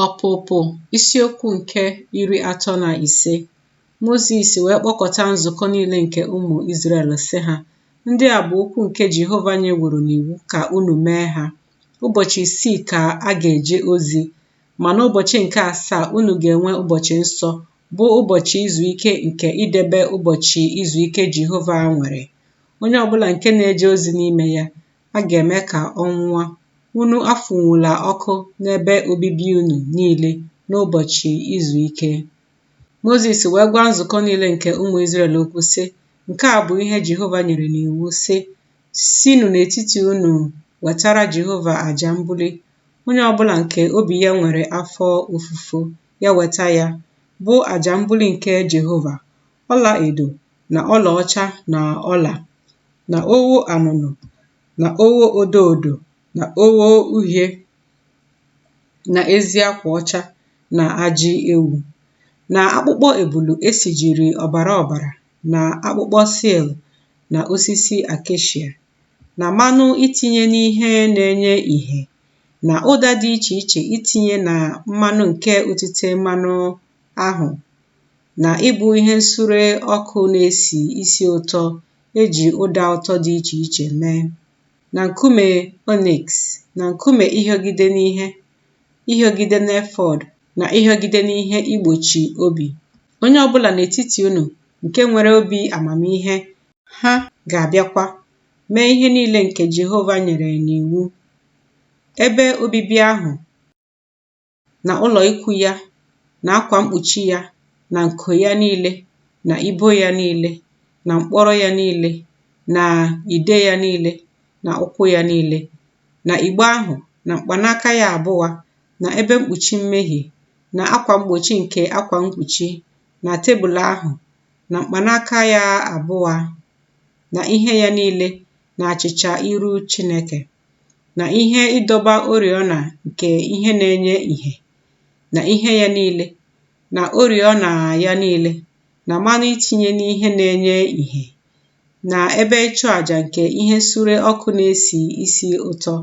Ọpụpụ isiokwu nke iri atọ na ise Mozis wee kpọkọta nzukọ niile nke ụmụ Izrel sị ha ndị a bụ okwu nke Jehova nyeworo n'iwu ka unu mee ha ụbọchị isii ka a ga-eje ozi ma n'ụbọchị nke asaa unu ga-enwe ụbọchị nsọ bụ ụbọchị izu ike nke idebe ụbọchị izu ike Jehova nwere onye ọbụla nke na-eje ozi n'ime ya a ga-eme ka ọ nwụa, unu afụnwula ọkụ n'ebe obibi unu niile n'ụbọchị izu ike. Mozis wee gwa nzukọ niile nke ụmụ Izrel okwu sị, Nke a bụ ihe Jehova nyere n'iwu sị, Sinụ n'etiti unu wetara Jehova aja mbuli, onye ọbụla nke obi ya nwere afọ ofufo, ya weta ya, bụ aja mbuli nke Jehova. ọla edo na ọla ọcha na ọla na ogho anụnụ na ogho odo odo na ogho uhie na ezi akwa ọcha na ajị ewu na akpụkpọ ebulu esijiri ọbara ọbara na akpụkpọ seal na osisi acacia na mmanụ itinye n'ihe na-enye ìhè na ụda dị iche iche itinye na mmanụ nke otite mmanụ ahụ na ịbụ ihe nsure ọkụ na-esi isi ụtọ e ji ụda ụtọ dị iche iche mee, na nkume onyx, na nkume ịhịọgide n'ihe ịhịọgide n'efọd, na ịhịọgide n'ihe igbochi obi. Onye ọ bụla n'etiti unu nke nwere obi amamihe, ha ga-abịakwa mee ihe niile nke Jehova nyere n'iwu. Ebe obibi ahụ na ụlọ ikwu ya na akwa mkpuchi ya na nko ya niile na ibo ya niile na mkpọrọ ya niile na ide ya niile na ụkwụ ya niile na igbe ahụ na mkpanaka ya abụa na ebe mkpuchi mmehie na akwa mgbochi nke akwa mkpuchi na tebụl ahụ na mkpanaka ya abụa na ihe ya niile na achịcha iru Chineke. na ihe ịdọba oriọna nke ihe na-enye ìhè na ihe ya niile na oriọna ya niile na mmanụ itinye n'ihe na-enye ìhè na ebe ịchụ aja nke ihe nsure ọkụ na-esi isi ụtọ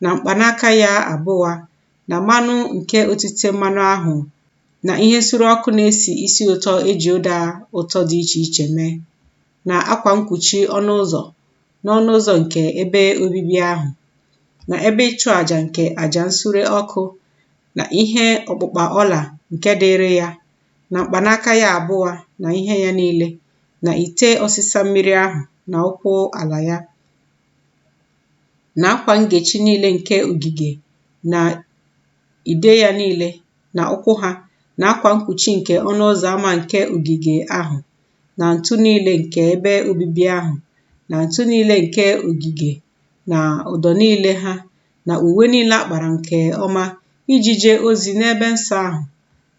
na mkpanaka ya abụa na mmanụ nke otite mmanụ ahụ na ihe nsure ọkụ na-esi isi ụtọ e ji ụda ụtọ dị iche iche mee na akwa mkpuchi ọnụ ụzọ n'ọnụ ụzọ nke ebe obibi ahụ na ebe ịchụ àjà nke àjà nsure ọkụ na ihe ọkpụkpa ọla nke dịrị ya na mkpanaka ya abụọ na ihe ya niile na ite ọsịsa mmiri ahụ na ụkwụ ala ya na akwa ngechi niile nke ogige na ide ya niile na ụkwụ ha na akwa mkpuchi nke ọnụ ụzọ ama nke ogige ahụ na ntu niile nke ebe obibi ahụ na ntu niile nke ogige na ụdọ niile ha na uwe niile a kpara nke ọma iji jee ozi n'ebe nsọ ahụ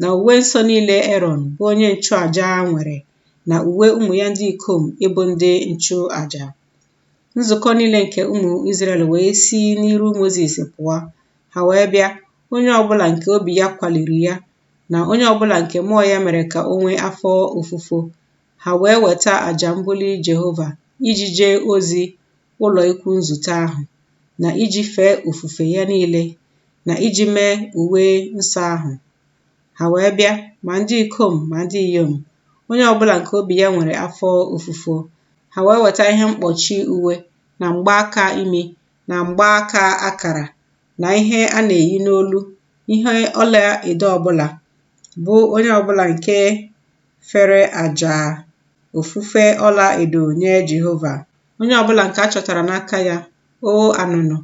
na uwe nsọ niile Erọn bụ onye nchụaja nwere na uwe ụmụ ya ndị ikom ịbụ ndị nchụaja. Nzukọ niile nke ụmụ Izrel wee si n'iru Mozis pụọ, ha wee bịa, onye ọbụla nke obi ya kwaliri ya na onye ọbụla nke mmụọ ya mere ka o nwee afọ ofufo, ha wee weta aja mbuli Jehova iji jee ozi ụlọ ikwu nzute ahụ, na iji fee ofufe ya niile, na iji mee uwe nsọ ahụ. Ha wee bịa, ma ndị ikom ma ndị inyom, onye ọbụla nke obi ya nwere afọ ofufo, ha wee weta ihe mkpọchi uwe, na mgbaaka imi, na mgbaaka akara, na ihe a na-eyi n'olu ihe ọla edo ọbụla bụ onye ọbụla nke fere aja ofufe ọla edo nye Jehova onye ọbụla nke a chọtara n'aka ya ogho anụnụ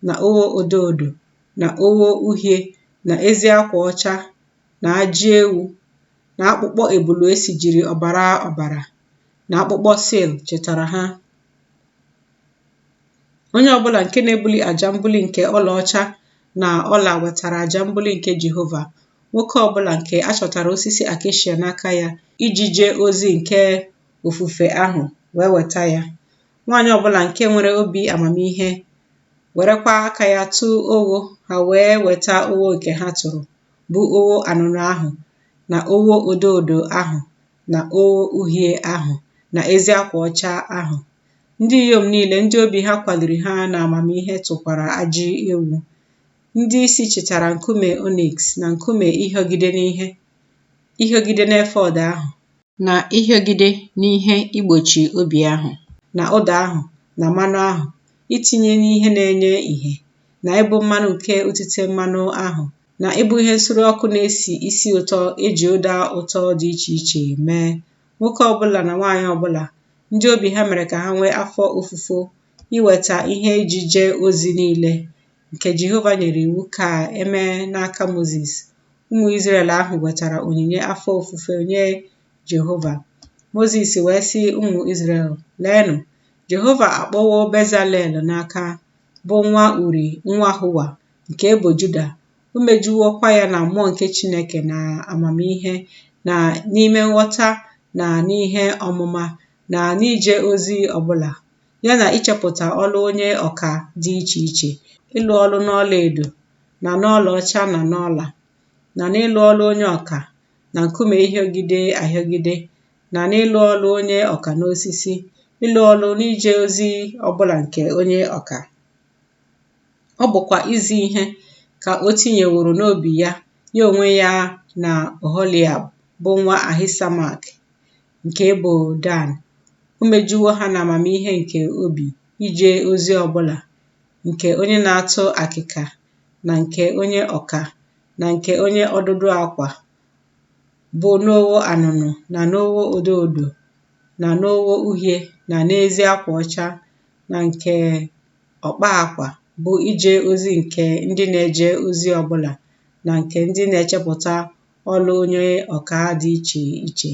na ogho odo odo na ogho uhie na ezi akwa ọcha na ajị ewu na akpụkpọ ebulu e sijiri ọbara ọbara na akpụkpọ sil chịtara ha Onye ọ bụla nke na-ebuli aja mbuli nke ọlaọcha na ọla wetara aja mbuli nke Jehova. Nwoke ọ bụla nke a chọtara osisi akeshia n'aka ya iji jee ozi nke ofufe ahụ wee weta ya. Nwaanyị ọ bụla nke nwere obi amamihe werekwa aka ya tụọ ogho ha wee weta ogho nke ha tụrụ bụ ogho anụnụ ahụ na ogho odo odo ahụ na ogho uhie ahụ na ezi akwa ọcha ahụ. Ndị inyom niile ndị obi ha kwaliri ha na amamihe tụkwara ajị ewu. Ndị isi chịtara nkume oniks na nkume ịhịọgide n'efọd ahụ, na ịhịọgide n'ihe igbochi obi ahụ, na ụda ahụ, na mmanụ ahụ itinye n'ihe na-enye ìhè, na ịbụ mmanụ nke otite mmanụ ahụ, na ịbụ ihe nsure ọkụ na-esi isi ụtọ eji ụda ụtọ dị iche iche mee nwoke ọbụla na nwaanyị ọbụla ndị obi ha mere ka ha nwee afọ ofufo iweta ihe iji jee ozi niile nke Jehova nyere iwu ka emee n'aka Mozis ụmụ Izrel ahụ wetara onyinye afọ ofufo nye Jehova Mozis wee sị ụmụ Izrel leenụ Jehova akpọwo Bezalel n'aha bụ nwa Uri nwa Hua nke ebo Juda, o mejuwokwa ya na mmụọ nke Chineke na amamihe na n'ime nghọta na n'ihe ọmụma na n'ije ozi ọbụla, ya na ichepụta ọlụ onye ọka dị iche iche, ịlụ ọlụ n'ọla edo na n'ọla ọcha na n'ọla, na n'ịlụ ọlụ onye ọka na nkume ịhịọgide ahịọgide na n'ịlụ ọlụ onye ọka n'osisi, ịlụ ọlụ n'ije ozi ọbụla nke onye ọka. ọ bụkwa izi ihe ka o tinyeworo n'obi ya ya onwe ya na Oholiab bụ nwa Ahisamak nke ebo Dan o mejuwo ha na amamihe nke obi ije ozi ọbụla nke onye na-atụ akịka na nke onye ọka na nke onye ọdụdụ akwa bụ n'ogho anụnụ na n'ogho odo odo na n'ogho uhie na n'ezi akwa ọcha na nke ọkpa akwa bụ ije ozi nke ndị na-eje ozi ọbụla na nke ndị na-echepụta ọlụ onye ọka dị iche iche.